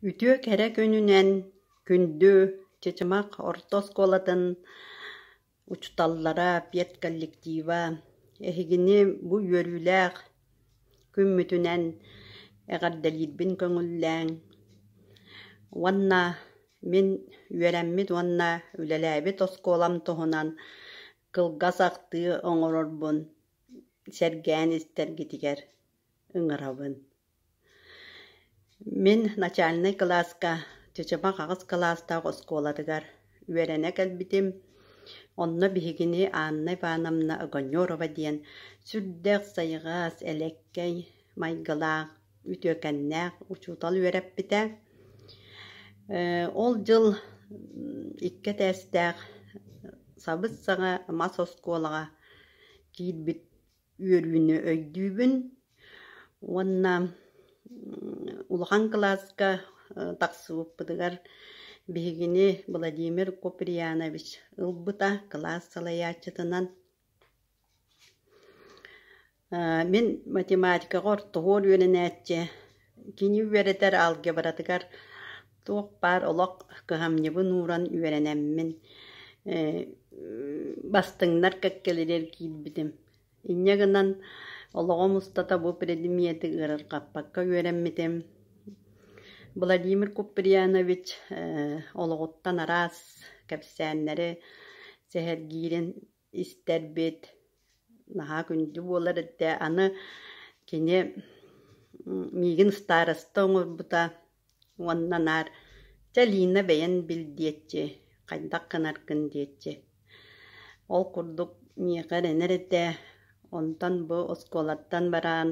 Үтүө кэрэ күнүнэн күндү Чычымах орто оскуолатын учууталлара, педколлектива, эһигини бу үөрүүлээх күммүтүнэн эҕэрдэлиирбин көҥүллээҥ уонна мин үөрэммит уонна үлэлээбит оскуолам туһунан кылгас ахтыы оҥорорбун сэргээн истэргитигэр ыҥырабын. Мин начальнай кылааска чычымах аҕыс кылаастаах оскуолатыгар үөрэнэ кэлбитим. Онно биһигини Анна Ивановна Огонерова диэн сүрдээх сайҕас, элэккэй майгылаах, үтүөкэннээх учуутал үөрэппитэ. Ол дьыл икки этээстээх сабыс-саҥа мас оскуолаҕа киирбит үөрүүнү өйдүүбүн уонна улахан кылааска тахсыбыппытыгар биһигини Владимир Куприянович ылбыта кылаас салайааччытынан. Мин математикаҕа ортоһуор үөрэнээччи, Кини үөрэтэр алгебратыгар туох баар олох кыһамньыбын ууран үөрэнэммин бастыҥнар кэккэлэригэр киирбитим. Инньэ гынан олоҕум устата бу предмети ыарырҕаппакка үөрэммитим. Владимир Куприянович олоҕуттан араас кэпсээннэри сэһэргиирин истэрбит наһаа күндү буолар этэ аны кини миигин староста оҥорбута уонна наар чэ лина бэйэн бил диэччи хайдах гынаргын диэччи ол курдук миэхэ эрэнэр этэ онтон бу оскуолаттан бараан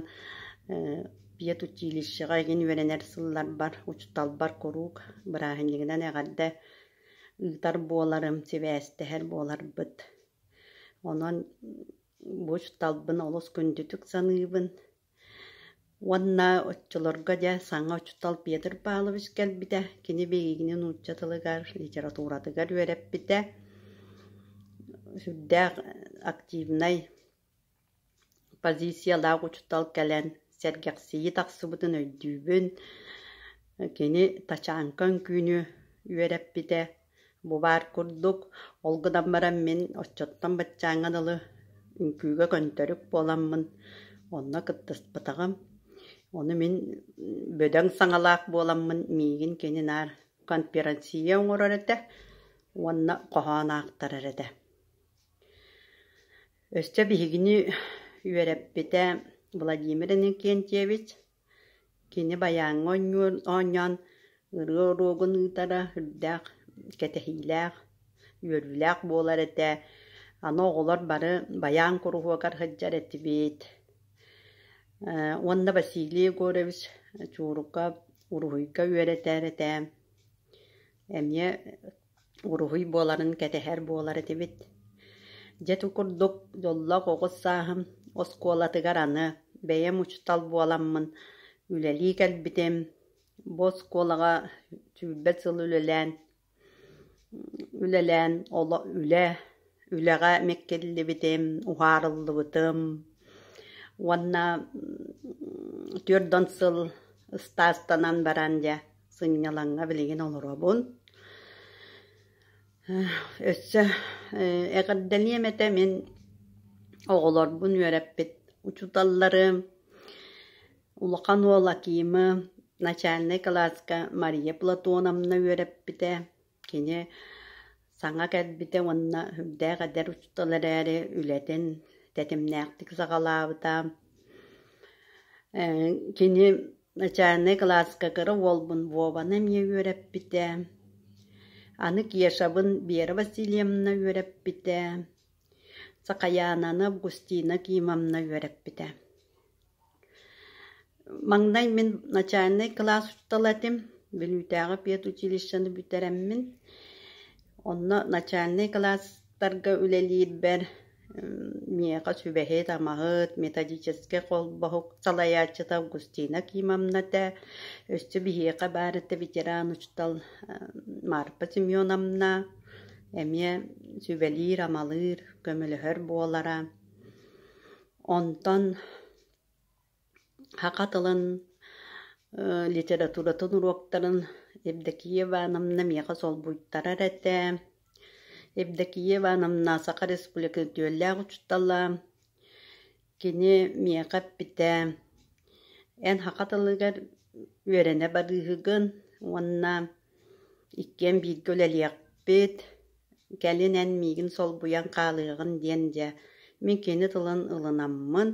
педучилищеҕа игин үөрэнэр сылларбар учууталбар куруук бырааһынньыгынан эҕэрдэ ыытар буоларым, сибээстэһэр буоларбыт. Онон бу учууталбын олус күндүтүк саныыбын. Уонна оччолорго дьэ саҥа учуутал Петр Павлович кэлбитэ. Кини биһигини нуучча тылыгар, литературатыгар үөрэппитэ. Сүрдээх активнай Позициялаах учуутал кэлэн сэргэхсийии тахсыбытын өйдүүбүн, кини тачаанка өҥкүүнү үөрэппитэ, бу баар курдук, ол гынан баран мин оччоттон баччааҥҥа дылы үҥкүүгэ көнтөрүк буоламмын онно кыттыспатаҕым. Ону мин бөдөҥ саҥалаах буоламмын миигин кини наар конференцийэ оҥорор этэ уонна хоһоон аахтарар этэ. Өссө биһигини үөрэппитэ Владимир Иннокентьевич. Кини байааҥҥа оонньуон оонньоон ырыа уруогун ыытара үрдээх кэтэһиилээх, үөрүүлээх буолар этэ. Аны оҕолор бары байаан куруһуокар сылдьар этибит. Э уонна Василий Егорович Чуурукка, уруһуйга үөрэтэр этэ. Эмиэ уруһуй буоларын кэтэһэр буолар этибит Дьэ ити курдук дьоллоох оҕус сааһым оскуолатыгар аны бэйэм учуутал буоламмын үлэлии кэлбитим бу оскуолаҕа сүүрбэ сыл үлэлээн үлэлээн оло үлэ үлэҕэ миккиллибитим уһаарыллыбытым уонна түөрт он сыл ыстаастанан баран дьэ сынньалаҥҥа билигин олоробун. Өссө эҕэрдэлиэм этэ мин оҕолорбун үөрэппит учууталларым, улахан уол Акимы начальнай кылааска Мария Платоновна үөрэппитэ. Кини саҥа кэлбитэ уонна үрдээх эдэр учуутал эрээри үлэтин тэтимнээхтик саҕалаабыта. Кини начальнай кылааска кыра уолбун Вованы эмиэ үөрэппитэ. Аны Кешабын Вера Васильевна үөрэппитэ. Сакаянаны Августина Кимовна үөрэппитэ. Маҥнай мин начальнай кылаас учуутала этим, Бүлүүтээҕи педучилищены бүтэрэммин. Онно начальнай кылаастарга үлэлиирбэр миэхэ сүбэһит-амаһыт, методическай холбоһук салайааччыта Августина Акимовна этэ. Өссө биһиэхэ баар этэ ветеран учуутал Марфа Семеновна. Эмиэ сүбэлиир-амалыыр, көмөлөһөр буолара. Онтон саха тылын, литературатын уруоктарын Евдокия Ивановна миэхэ солбуйтарар этэ. Евдокия Ивановна Саха Республика үтүөлээх учуутала. Кини миэхэ эппитэ: «Эн саха тылыгар үөрэнэ барыыһыгын уонна иккиэн бииргэ үлэлиэхпит, кэлин эн миигин солбуйан хаалыаҕын диэн дьэ мин кини тылын ылынаммын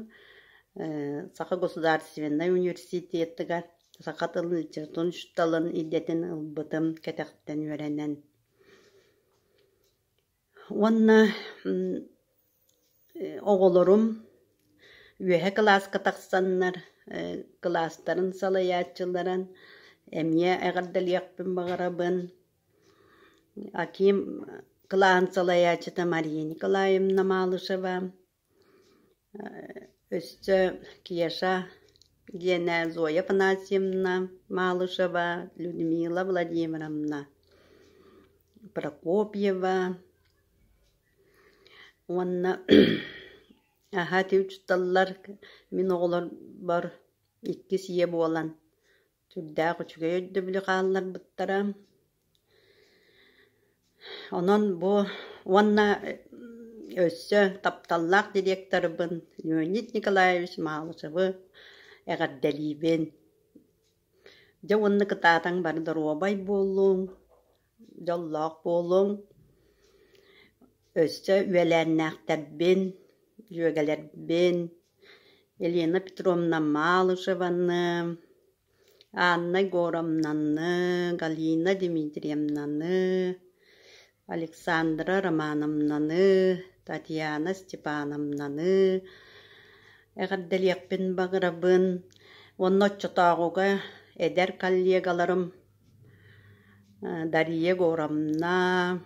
саха государственнай университетыгар саха тылын учууталын идэтин ылбытым кэтэхтэн үөрэнэн уонна Оҕолорум үөһэ кылааска тахсаннар кылаастарын салайааччыларан эмиэ эҕэрдэлиэхпин баҕарабын. Аким кылааһын салайааччыта Мария Николаевна Малышева, өссө Кеша диэнэ Зоя Афанасьевна Малышева, Людмила Владимировна Прокопьева Уонна аһа түмтүтталлар, мин оҕолорбор иккис ийэ буолан сүрдээх үчүгэй өйдөбүлү хаалларбыттара. Онон бу уонна өссө тапталлаах директорбын Леонид Николаевич Малышевы эҕэрдэлиибин. Дьэ уонна кытаатаҥ бары доруобай буоллуҥ. Дьоллоох буолуҥ, өссө үөлээннээхтэрбин, дьүөгэлэрбин Елена Петровна Малышеваны, Анна Егоровнаны, Галина Дмитриевнаны, Александра Романовнаны, Татьяна Степановнаны эҕэрдэлиэхпин баҕарабын уонна оччотооҕуга эдэр коллегаларым Дария Егоровна,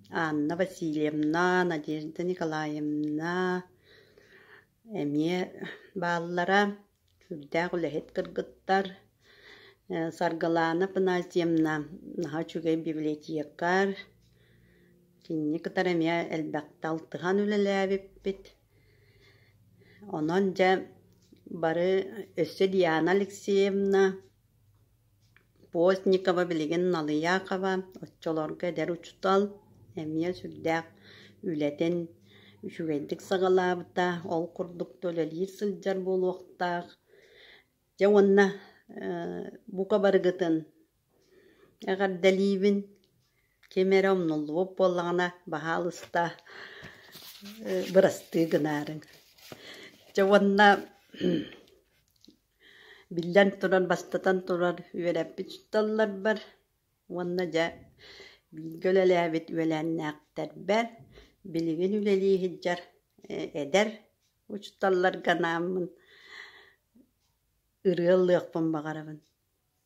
Анна Васильевна, Надежда Николаевна эмиэ бааллара. Сүрдээх үлэһит кыргыттар. Саргылаана Панасьевна наһаа үчүгэй библиотекарь. Кинини кытары эмиэ элбэхтэ алтыһан үлэлээбиппит. Онон дьэ бары өссө Диана Алексеевна Постникова билигин Налыйаакова, оччолорго эдэр учуутал, эмиэ сүрдээх үлэтин үчүгэйдик саҕалаабыта, ол курдук да үлэлиир сылдьар буолуохтаах. Дьэ уонна бука барыгытын эҕэрдэлиибин. Ким эрэ умнуллубут буоллаҕына баһаалыста бырастыы гынаарыҥ. Дьэ уонна Биллэн турар, бастатан турар, үөрэппит учууталларбар уонна, дьэ, бииргэ үлэлээбит үөлээннээхтэрбэр, билигин үлэлии сылдьар эдэр учууталларга анааммын ырыа ыллыахпын баҕарабын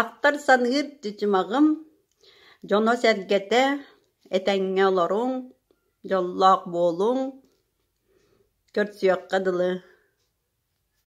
Ахтар-саныыр дьыдьымаҕым дьоно-сэргэтэ, этэҥҥэ олоруҥ, дьоллоох буолуҥ, көрсүөххэ дылы